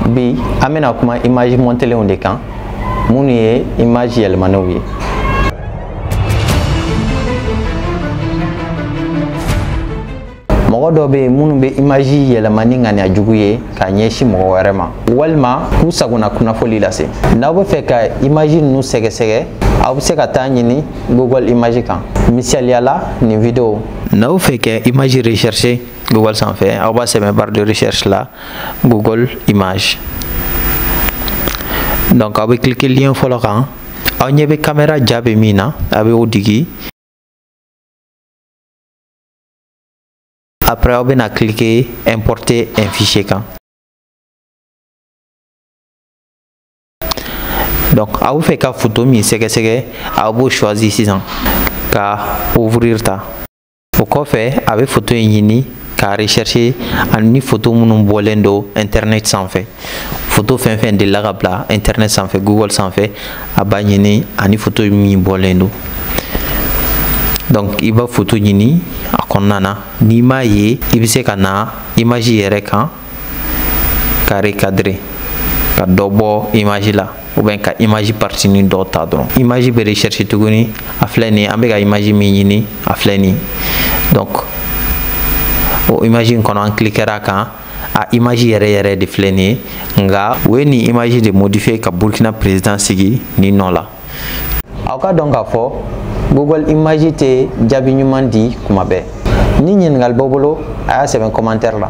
bi an bɛna kuma image montelenw de kan minnu ye image yɛlɛmanenw ye mɔgɔ dɔ bɛ yen minnu bɛ image yɛlɛma ni ŋaniya jugu ye ka ɲɛsin mɔgɔ wɛrɛ ma walima k'u sagona kunnafoli lase n'aw bɛ fɛ ka image ninnu sɛgɛsɛgɛ aw bɛ se ka t'a ɲini google image kan misaliya la nin video n'aw fɛ ka image rechercher google sanfɛ aw b'a sɛbɛn barre de recherche la Google Image donc aw bɛ cliquer lien fɔlɔ kan aw ɲɛ bɛ caméra ja bɛ min na a bɛ o digi après aw bɛna cliquer importer un fichier kan donc aw bɛ fɛ ka photo min sɛgɛsɛgɛ aw b'o choisir sisan ka ouvrir ta o kɔfɛ a bɛ foto in ɲini k'a rechercher ani foto minnu bɔlen don internet sanfɛ foto fɛn fɛn delila ka bila internet sanfɛ google sanfɛ a b'a ɲini ani foto min bɔlen don donc i b'a foto ɲini a kɔnɔna na n'i m'a ye i bɛ se ka na image yɛrɛ kan k'a recadrer ka dɔ bɔ image la ou bien ka image partie nin dɔ ta dɔrɔn image bɛ recherche tuguni a filɛ nin an bɛ ka image min ɲini a filɛ nin donc o image in kɔnɔ an cliquera a kan a image yɛrɛ yɛrɛ de filɛ nin ye nka u ye nin image de modifier ka Burkina président sigi nin nɔ la aw k'a dɔn k'a fɔ google image tɛ jaabi ɲuman di kuma bɛɛ ni ɲininkali b'aw bolo a y'a sɛbɛn commentaire la